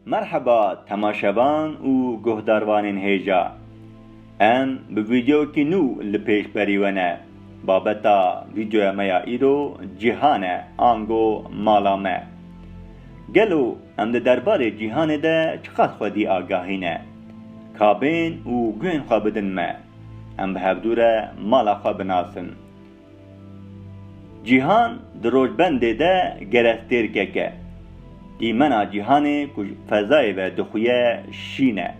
Merheba temaşevan û guhdarvanên hêja. Em bi vîdeoyekî nû li pêş berî we ne. Babeta vîdeoya me ya îro cîhan e ango mala me. Gelo em di derbarê cîhanê de çiqas xwedî agahî ne? Kabên û guhên xwe bidin me. Em bi hevdû re mala xwe binasin. Cîhan di rojbendê de gerek têr keke. Dîmena cîhanê ku ji fezayê ve dixuye şîn e.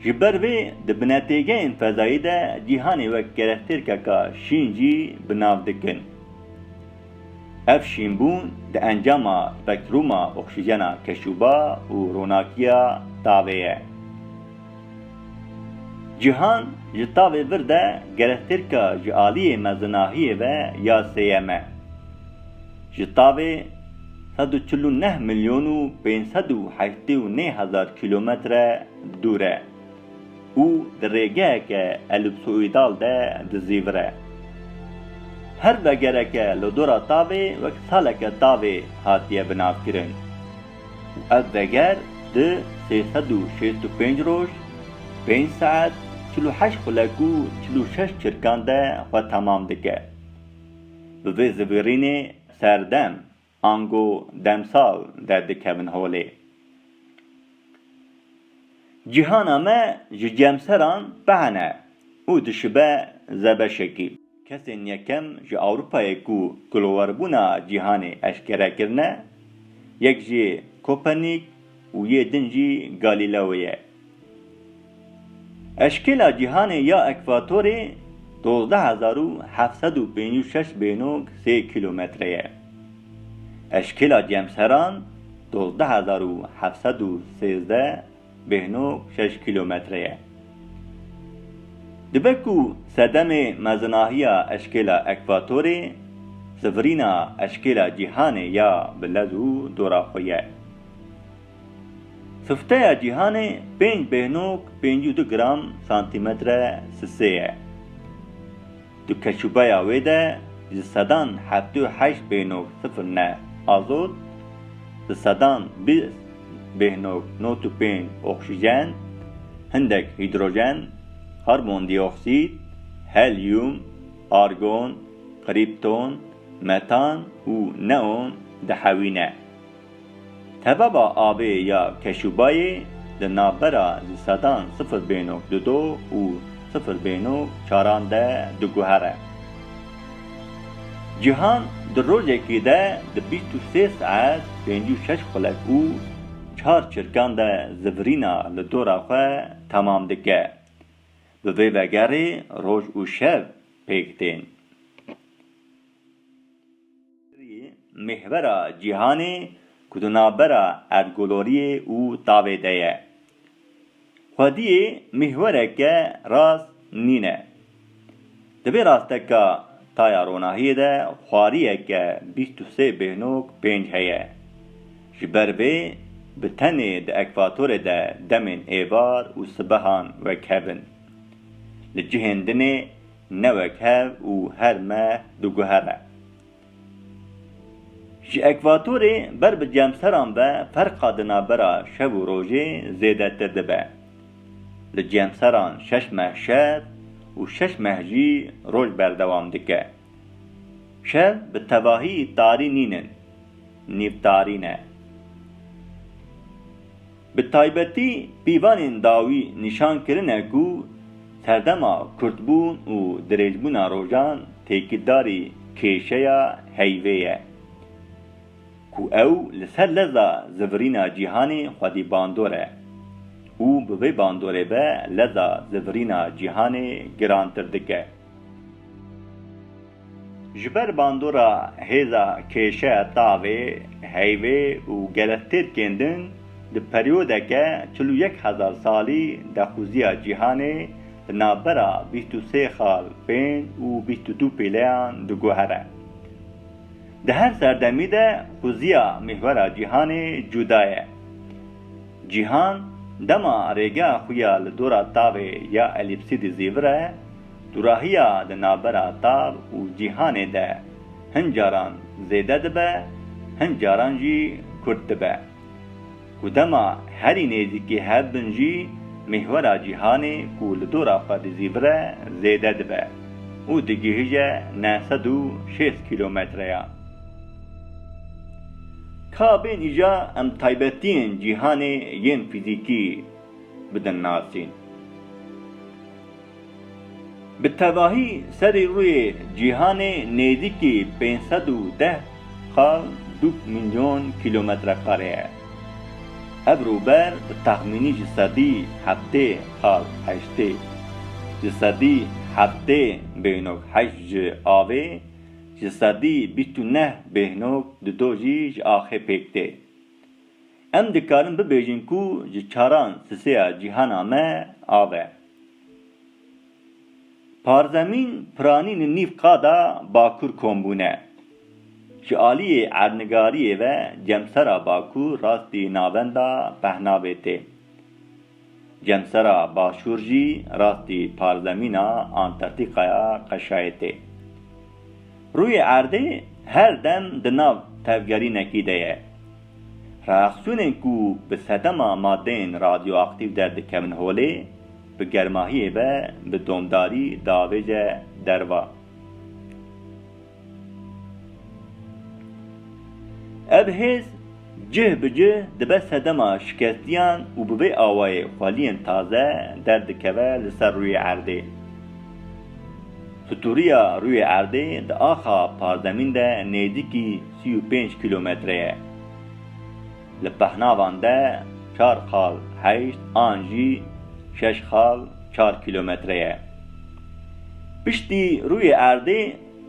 Ji ber vê di binetêgeyên fezayî de cîhanê wek gerek têr keka şîn jî bi nav dikin. Ev şînbûn di encama spektrûma oksîjena keşûba û ronakiya tavê ye. Cîhan ji tavê vir de gerestêrka ji aliyê mezinahiyê ve ya sêyem e. Ji tavê sed û çil û neh milyon û pênc sed û heştê û nê hezar kîlometre dûr e. û di rêgeheke elipsoîdal de dizîvire. Her vegereke li dora tavê wek saleke tavê hatiye binavkirin û ev veger di sê sed û şêst û pênc roj, pênc saet, çil û heşt xulek û çil û şeş çirkan de xwe temam dike. Bi vê zivîrînê serdem Ango demsal derdikevin holê. Cîhana me ji cemseran behene û dişibe zebeşekî. Kesên yekem ji Ewropayê ku kulweribûna cîhanê eşkere kirine, yek jî Kopernik û yê din jî Galîleoyê ye. Eşkêla cîhanê ya ekvatorê dozdeh hezar û heft sed û pênc û şeş bênok sê kîlometre ye. Eşkêla cemseran dozdeh hezar û heft sed û sêzdeh bênok şeş kîlometre ye. Dibe ku sedemê mezinahiya eşkêla ekvatorê sivirîna eşkêla cîhanê ya bi lez û dora xwe ye. Sifteya cîhanê pênc bêhnok pêncî û du gram santîmetre sisê ye. Di keşûbeya wê de ji sedan heftê û heşt bêhnok sifir ne azot, di sedan bîst bêhnok not û pênc oksijen, hindek hîdrojen, karbondîoksîd, helyum, argon, krîpton, metan û neon dihewîne. Tevava avê ya Keşûbayê di navbera di sedan sifir bênok du do û sifir bênok çaran de diguhere. Cîhan di rojekê de di bîst û sê saet pêncî û şeş xulek û çar çirkan de zivirîna li dora xwe temam dike. Bi vê vegerê roj û şev pêk tên. Serokê Mêhvera Cîhanê ku di navbera Erdgoloriyê û Tavê de ye, xwediyê mêhwereke rast nîne. Di vê rasteka taya ronahiyê de xwariyeke bîst û sê bêhnok pênc heye. Ji ber vê bi tenê di ekvatorê de demên êvar û sibehan wek hev in. Li cihên din ê Ne wek hev û her me diguhere. Ji ekvatorê ber bi cemseran ve ferqa di navbera şev û rojê zêdetir dibe. Li cemseran şeş meh şev û şeş meh jî roj berdewam dike. Şev bi tevahî tarî nînin, nîvtarî ne. Bi taybetî pîvanên dawî nîşan kirine ku serdema kurtbûn û dirêjbûna rojan têkildarî kêşeya heyvê ye ku ew li ser leza zivirîna cîhanê xwedî bandor e û bi vê bandorê ve leza zivirîna cîhanê girantir dike. Ji ber bandora hêza kêşe tavê, heyvê û geletêrkên din di peryodeke çil û yek hezar salî de quziya cîhanê di navbera bîst û sê xal, pênc û bîst û du pîleyan diguhere. Di her serdemî de quziya mîhwera cîhanê cuda ye. Cîhan dema rêgeha xwe ya li dora tavê ya elîpsîdî zîvir e, Dûrahiya di navbera tav û cîhanê de hin caran zêde dibe, hin caran jî kurt dibe. Ku dema herî nêzîkî hev bin jî mîhwera cîhanê ku li dora xwe dizîvire zêde dibe û digihije neh sed û şêst kîlometreya. Ka bên îja em taybetiyên cîhanê yên fîzîkî bidin nasîn. Bi tevahî serî rûyê cîhanê nêzîkî pênc sed û deh ta du mîlyon kîlometrekare ye. Ev rûber bi texmînî ji sedî heftê ta heştê ji sedî heftê bêhnog heşt ji avê, ji sedî bîst û neh bêhnog dido jî ji axê pêk tê. Em dikarin bibêjin ku ji çaran siseya cîhana me av e. Parzemîn piranî li nîv qada Bakur kom bûne. Ji aliyê erdnigariyê ve cemsera Bakur rastî navenda Pehnabê tê. Cemsera Başûr jî rastî parzemîna Antartîkaya qeşayê tê. Rûyê erdê her dem di nav tevgerînekî de ye. Reaksîyonên ku bi sedema madeyên radyoaktîf de dikevin holê, bi germahiyê ve bi domdarî diavêje derva. Ev hêz cih bi cih dibe sedema şikestiyan û bi vê awayê xweliyên taze derdikeve li ser rûyê erdê. Stûriya rûyê erdê di axa parzemîn de nêzîkî sî û pênc kîlometre ye. Li pehnavan de çar qal heşt an jî şeş qal çar kîlometre ye. Piştî rûyê erdê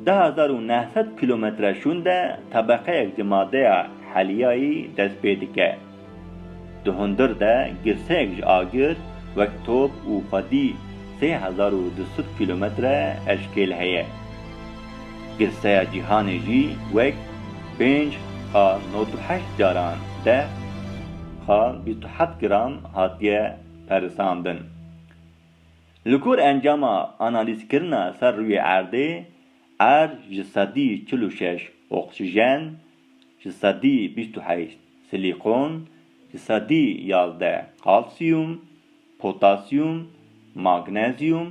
du hezar û neh sed kîlometre şûn de tebeqeyek ji madeya heliyayî dest pê dike. Di hundir de girseyek ji agir wek top û xwedî sê hezar û du sed kîlometre eşkêl heye. Girseya cîhanê jî wek pênc a nod û heşt caran deh a bîst û heft gram hatiye perisandin. Li gor encama analîzkirina ser rûyê erdê, erd ji sedî çil û şeş oksijen, ji sedî bîst û heşt silîkon, ji sedî yazdeh kalsiyum, potasyum, magnezyum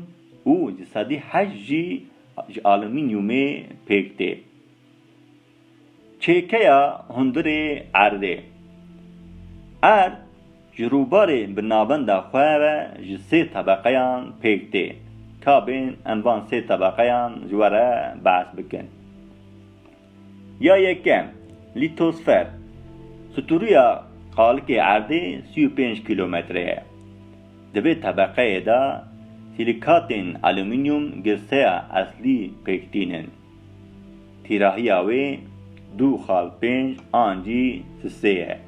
û ji sedî heşt jî ji alumînyumê pêk tê. Çêkeya hundirê erdê. Erd ji rûbarê bi navenda xwe ve ji sê tebeqeyan pêk tê. Ka bên em van sê tebeqeyan ji we re behs bikin. Ya yekem, Lîtosfer, Stûriya qalikê erdê sî û pênc kîlometre ye. Di vê tebeqeyê de sîlîkatên alumînyûm girseya eslî pêk tînin. Tîrahiya wê du xal pênc an cî si sê ye.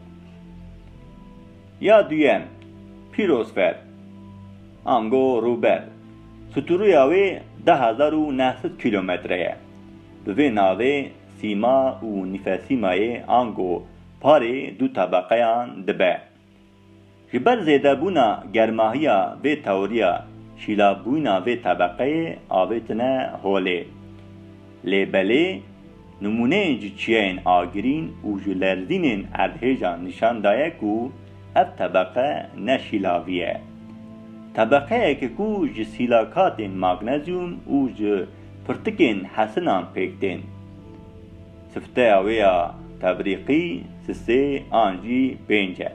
Ya duyem, Pîrosfer, ango rûber, stûriya wê deh hezar û neh sed kîlometre ye. Bi vê navê sîma û nîfesîmayê ango parê du tebeqeyan dibe. Ji ber zêdebûna germahiya vê tewriya şîlavbûyina vê tebeqeyê avêtine holê. Lê belê nimûneyên ji çiyayên agirîn û ji lerzînên erdhêjan nîşan daye ku ev tebeqe ne şîlavî ye. Tebeqeyeke ku ji sîlakatên magnezyum û ji Pirtikên hesinan pêk tên. Sifteya wê ya tebrîqî sisê an jî pênc e.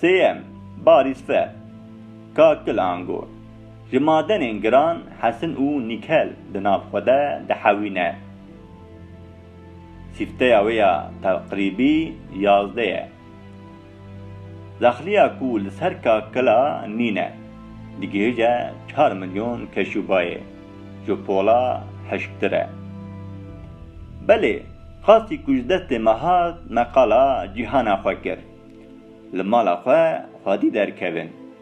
Sêyem, barî sife. Ka kil ango, ji madenên giran hesin û nîkel di nav xwe de dihewîne. Sîfteya wê ya teqrîbî yazdeh e. Daxiliya ku li ser kakila nîne digihîje çar milyon keşûbayê ji pola hişktir e. Belê qasî ku ji destê me hat me qala cîhana xwe kir. Li mala xwe xwedî derkevin.